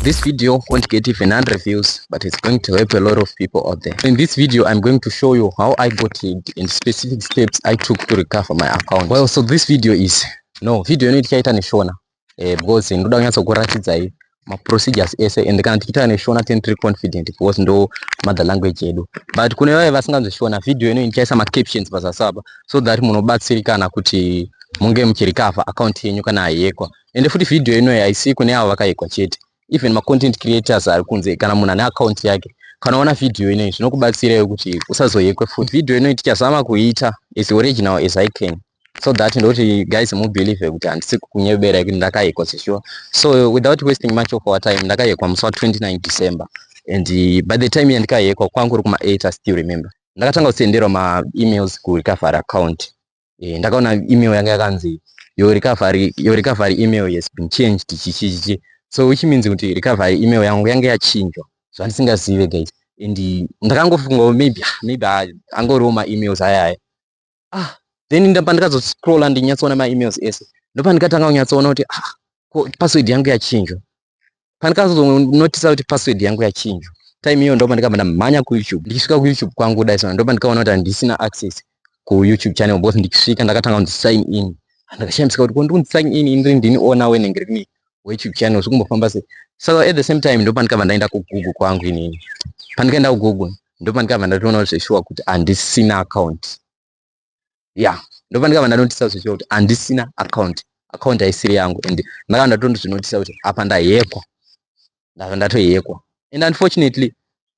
This video won't get even 100 views, but it's going to help a lot of people out there. In this video, I'm going to show you how I got it and specific steps I took to recover my account. Well, so this video is... No, video ino tichaita neshona. Eh, because ndoda kunyatsa kuratidzai maprocedures ese and kana tichiita neshona tini tiri confident because ndo mother language yedu but kune vaye vasinganzwe shona video ino ndichaisa macaptions pazasi apa so that munobatsirikana kuti munge muchirecover account yenyu kana haiyekwa ende futi video inoyi haisi kune avo vakaigwa chete even macontent creators ari kunze kana munhu ane akaunti yake kana uona video inoyi zvinokubatsirawo kuti usazoyekwe futi video inoyi tichazama kuiita as original as i can so that ndoti guys mubelieve kuti handisi kunyebera yekuti ndakayekwa sesure so without wasting much of our time ndakayekwa musi wa 29 december and uh, by the time yandikayekwa kwangu uri kuma 8 i still remember ndakatanga kusenderwa maemails kurecovery account eh, ndakaona email yanga yakanzi your recovery your recovery email has been changed chichichichi so which means kuti recovery email yangu yange yachinjwa zvandisingazive guys and ndakangofunga maybe ah, maybe ah, angoriwo maemails aya aya ah then ndapa ndikazoscrolla ndinyatsoona maemails ese ndopa ndikatanga kunyatsoona kuti ah ko password yangu yachinjwa pandikazonotisa kuti password yangu yachinjwa time iyo ndopa ndikabva ndamhanya kuyoutube ndichisvika kuyoutube kwangu kudai sona ndopa ndikaona kuti handisina access kuyoutube channel both ndichisvika ndakatanga kunzi sign in ndakashamisika kuti kondi kunzi sign in indiri ndini ona wenenge rimi weyoutube channel zvikumbofamba sei so at the same time ndopa ndikabva ndaenda kugoogle kwangu inini pandikaenda kugoogle ndopa ndikabva ndatoona kuti zveshuwa kuti handisina account ya ndobva ndikabva ndanotisa kuti kuti handisina account account haisiri yangu and ndakabva ndatondozvinotisa kuti apa ndahekwa ndabva ndatohekwa and unfortunately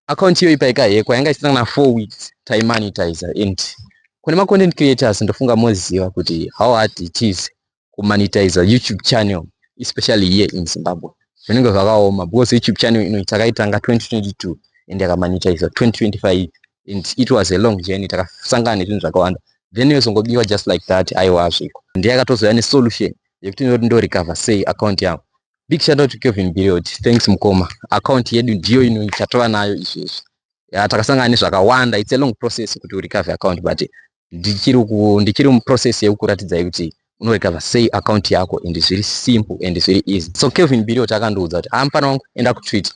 account iyoyi paikahekwa yanga isina kana four weeks taimonitizer and kune macontent creators ndofunga moziva kuti how hard it is kumonetizer youtube channel especially here in zimbabwe zvinenge zvakaoma because youtube channel ino takaitanga 2022 and yakamonetizer 2025 and it was a long journey takasangana nezvinhu zvakawanda then yozongobiwa just like that aiwa azviko ndiyakatozouya nesolution yekuti ndoti ndorecover sei account yangu big shout out to kevin biriod thanks mukoma account yedu ndiyo ino tatova nayo izvezvi ya takasangana nezvakawanda its a long process kuti urecover account but ndichiri ku ndichiri mu process yekukuratidza kuti unorecover sei account yako and zviri simple and zviri easy so Kelvin Bilio takandiudza kuti ah mfana wangu enda ku Twitter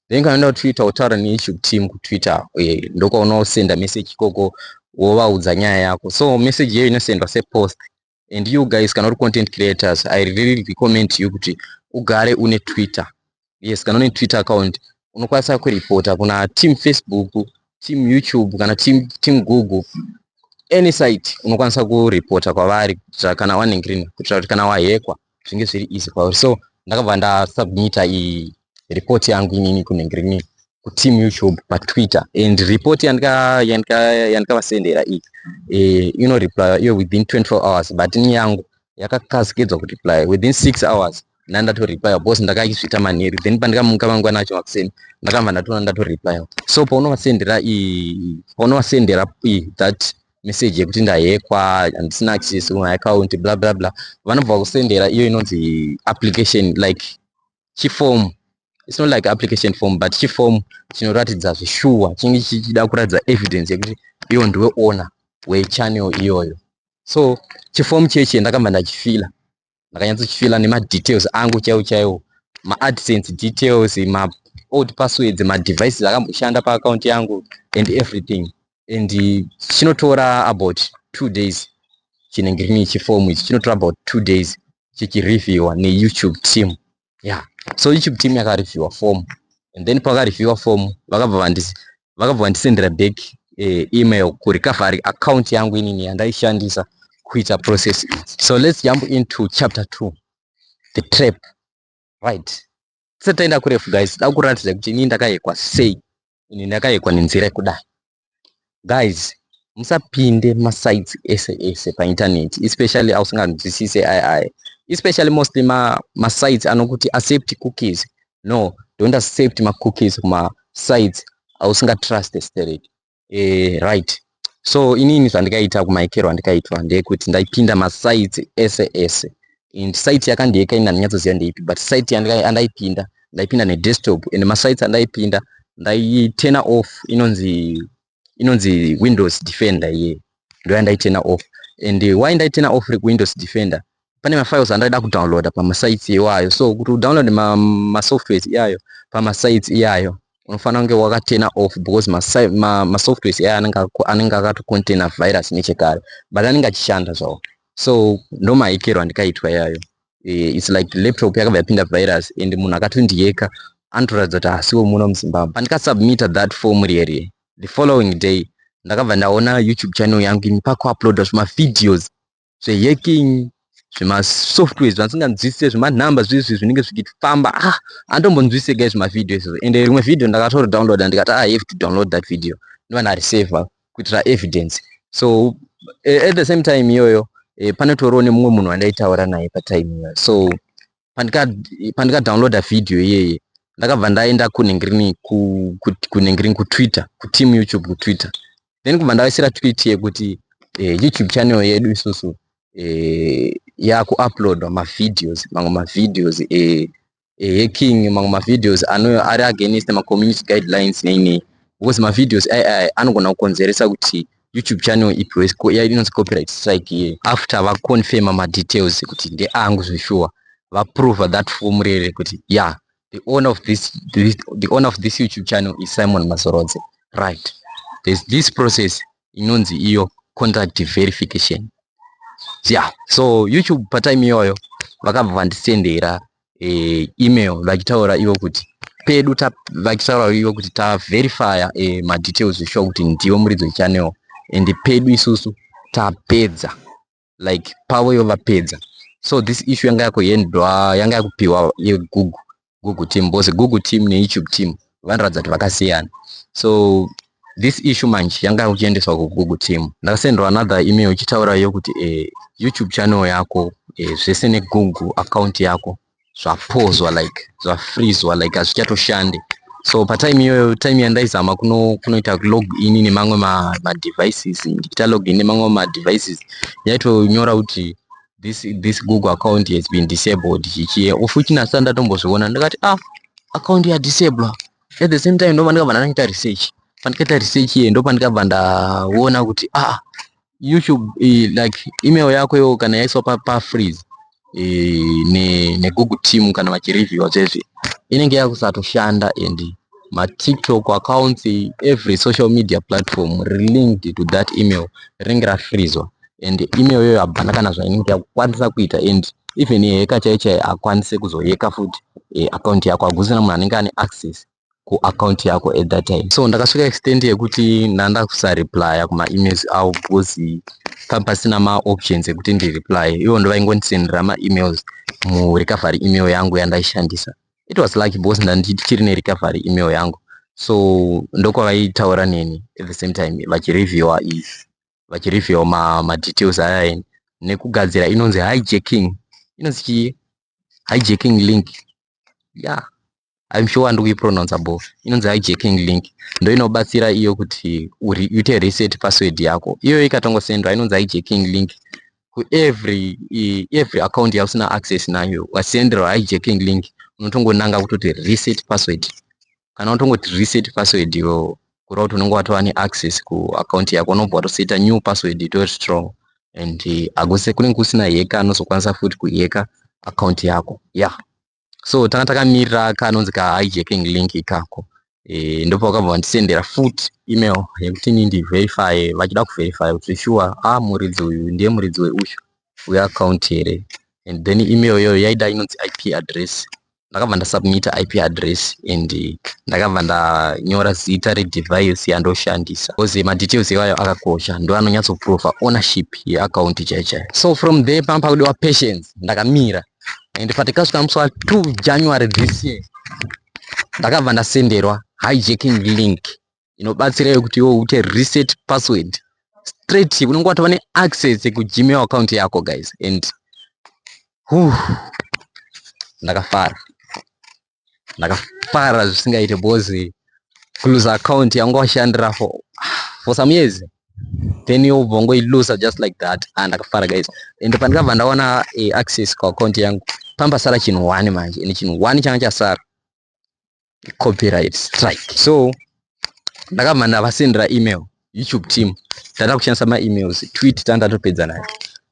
then kana enda ku Twitter utaura ne issue team ku Twitter eh, ndokwaona usenda message ikoko wovaudza nyaya yako so message yeyo inosendwa se post and you guys kana uri content creators i really recommend you kuti ugare une twitter yes kana une twitter account unokwanisa kuripota kuna team facebook team youtube kana team, team google any site unokwanisa kuripota kwavari kuitira kana waningirina kuitira kuti kana wahekwa zvinge zviri easy kwauri so ndakabva ndasubmita report yangu inini kunengirini kuteam youtube patwitter and report yandikavasendera iyi eh, inoreply iyo within 24 hours but ini yangu yakakasikidzwa kureply within 6 hours ndandatoreply because ndakaizvita manheru then pandikamuka mangwana acho makuseni ndakabva ndatoona ndatoreply so paunovasendera paunovasendera that message yekuti ndahekwa handisina access kuma account bla bla bla vanobva kusendera iyo inonzi application like chiform it's not like application form but chiform chinoratidza zvishuwa chinge chichida kuratidza evidence yekuti iwo ndiwe owner wechannel iyoyo so chiform chechi ndakamba ndachifila ndakanyatsochifila nemadetails angu chaiwo chaiwo maadsense details ma old passwords madevices akamboshanda paaccount yangu and everything and chinotora about two days chinenge chine chifomu ichi chinotora about two days chichireviewa neyoutube team yeah so youtube team yakareviewer form and then pakareviewer form vakabva vandisi vakabva vandisendera back eh, email kurecovery account yangu inini yandaishandisa kuita process so let's jump into chapter 2 the trap right tisati taenda kurefu guys da kuratidza kuti inini ndakayekwa sei ini ndakayekwa nenzira yekudai guys musapinde masites ese ese painternet especially ausinganzwisise ai ai especially mostly masites ma anokuti accept cookies no don't accept macookies kumasites ausingatruste sterek e, eh, right so inini zvandikaita kumaikero andikaitwa ndeyekuti ndaipinda masite ese ese and site yakandi yeka ini handinyatsoziva ndeipi but site andaipinda ndaipinda nedesktop and masite andaipinda ndaitena off inonzi inonzi windows defender iye ndoyandaitena off and why ndaitena off rekuwindows defender pane mafiles andaida kudownloada pamasites iwayo so kuti udownload masoftwares ma iyayo pamasites iyayo unofanira kunge wakatena off because masoftwares ma, ma iyayo anenge akatocontaina virus nechekare but anenge achishanda zvawo so ndomahekero andikaitwa iyayo eh, its like laptop yakabva yapinda virus and munhu akatondiyeka anotoratidza kuti hasiwo muno muzimbabwe pandikasubmita that form riyerie the following day ndakabva ndaona youtube channel yangu ini pakuuploada zvemavideos zvehacking zvemasoftware zvasinganzwisise zvemanumber zviizvi zvinenge zvichifamba ah andombonzwisise gai zvemavideo izvo ende rimwe video ndakatoro downloada ndikati ah, i have to download that video ndiva ndarisavha kuitira evidence so eh, at the same time iyoyo eh, panotoriwo nemumwe munhu wandaitaura naye patime iyoyo so pandika pandika downloada video iyeye ndakabva ndaenda kunengrini kunengrini kutwitter kuteam youtube kutwitter then kubva ndavaisira tweet yekuti eh, youtube channel yedu isusu eh, yakuuploadwa mavideos mamwe mavideos eh, eh, hacking mamwe mavideos ano ari against macommunity guidelines nei nei because mavideos ai ai anogona kukonzeresa kuti YouTube channel ipi wese ko iya inonzi copyright strike iye after va confirm ma details kuti nde angu zveshuwa va prove that form rere kuti yeah the owner of this, this the owner of this YouTube channel is Simon Mazorodze right there's this process inonzi iyo contract verification yeah so YouTube pa time iyoyo vakabva vandisendera eh, email vachitaura ivo kuti pedu vachitaura ivo kuti taverifya eh, madetails eshuwa kuti ndivo muridzi wechannel and pedu isusu tapedza like pavo ivo vapedza so this issue yanga yakuendwa yanga yakupiwa yegoogle google team because google team neyoutube team vanoratidza kuti vakasiyana so this issue manje yanga uchiendeswa kugugu team ndakasendwa another email ichitaura yo kuti eh, youtube channel yako eh, zvese negugu account yako zvapozwa like zvafrizwa like hazvichatoshande so patime iyoyo time yandaizama kuno kunoita log in nemamwe madevices ndichita log in nemamwe madevices yaitonyora kuti this this google account has been disabled chichiye ufuti nasa ndatombozviona ndikati ah account ya disable at the same time ndobva ndikabva ndakaita research pandikaita research iye ndopandikabva ndaona kuti ah youtube eh, like email yako yo kana yaiswa pa, pa freeze eh, ne, ne google team kana vachireviewa zvese inenge yakusatoshanda and matiktok accounts every social media platform relinked to that email rinenge rafrizwa and email yoyo habana kana zvainenge yakukwanisa kuita and even yeheka chai chai akwanise kuzoyeka futi e, eh, akaunti yako hakusina munhu anenge ane access kuakaunti yako at that time so ndakasvika extent yekuti ndanda kusareplya kumaemails avo because papasina maoptions ekuti ndireply ivo ndovaingondisendera maemails murecovery email yangu yandaishandisa it was lucky because ndandichiri nerecovery email yangu so ndokwavaitaura neni at the same time vachireviewa is vachireviewa ma, madetails aya eni nekugadzira inonzi hijacking inonzi chii hijacking link yeah im sure handikuipronounce bo inonzi hijacking link ndo inobatsira iyo kuti uite reset password yako iyoyo ikatongosendwa inonzi hijacking link kuevery every account yausina access nayo wasenderwa hijacking link unotongonanga kutoti reset password kana unotongoti reset password iwo kureva kuti unenge watova neaccess kuaccount yako unobva watoseta new password itori strong and eh, akuse kunenge kusina heka anozokwanisa futi kuheka account yako ya yeah. so tanga takamirira kanonzi ka hijacking link ikako e, ndopa vakabva vandisendera futi email yekuti ni ndiverify vachida kuverify kuti sure a ah, muridzi uyu ndiye muridzi weuyu weaccount here and then email iyoyo yaida inonzi ip address ndakabva ndasubmita ip address and eh, ndakabva ndanyora zita redevice yandoshandisa bcause madetails iwayo akakosha ndo anonyatsoprova ownership yeaccount chaichai so from there pamba pakudiwa patience ndakamira and but ikasvika musi wa 2 January this year ndakabva ndasenderwa hijacking link inobatsira yekuti iwe uite reset password straight unenge watova neaccess kugmail account yako guys and huh, ndakafara ndakafara zvisingaite because kuluza account yanga washandira for for some years then yobva ngoiluza just like that and ah, ndakafara guys and pandikabva ndaona eh, access kuaccount yangu pamba sara chinhu one manje and chinhu one changa chasara copyright strike so ndakabva ndavasendera email youtube team tata kushandisa maemails tweet tandatopedza nayo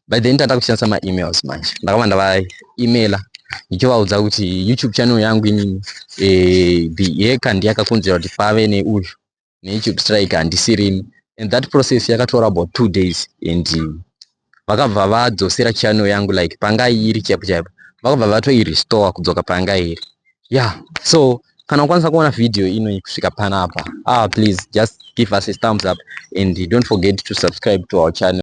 by then tata kushandisa maemails manje ndakabva ndavaemaila ndichivaudza kuti youtube channel yangu inini eh, yeka ndiyakakonzera kuti pave neuyu neyoutube strike handisirimi and that process yakatora about two days and vakabva vadzosera channel yangu like panga iri chaipo chaipo vakabva vatoirestore kudzoka panga iri yeah so kana ukwanisa kuona video ino kusvika panapa ah please just give us a thumbs up and don't forget to subscribe to our channel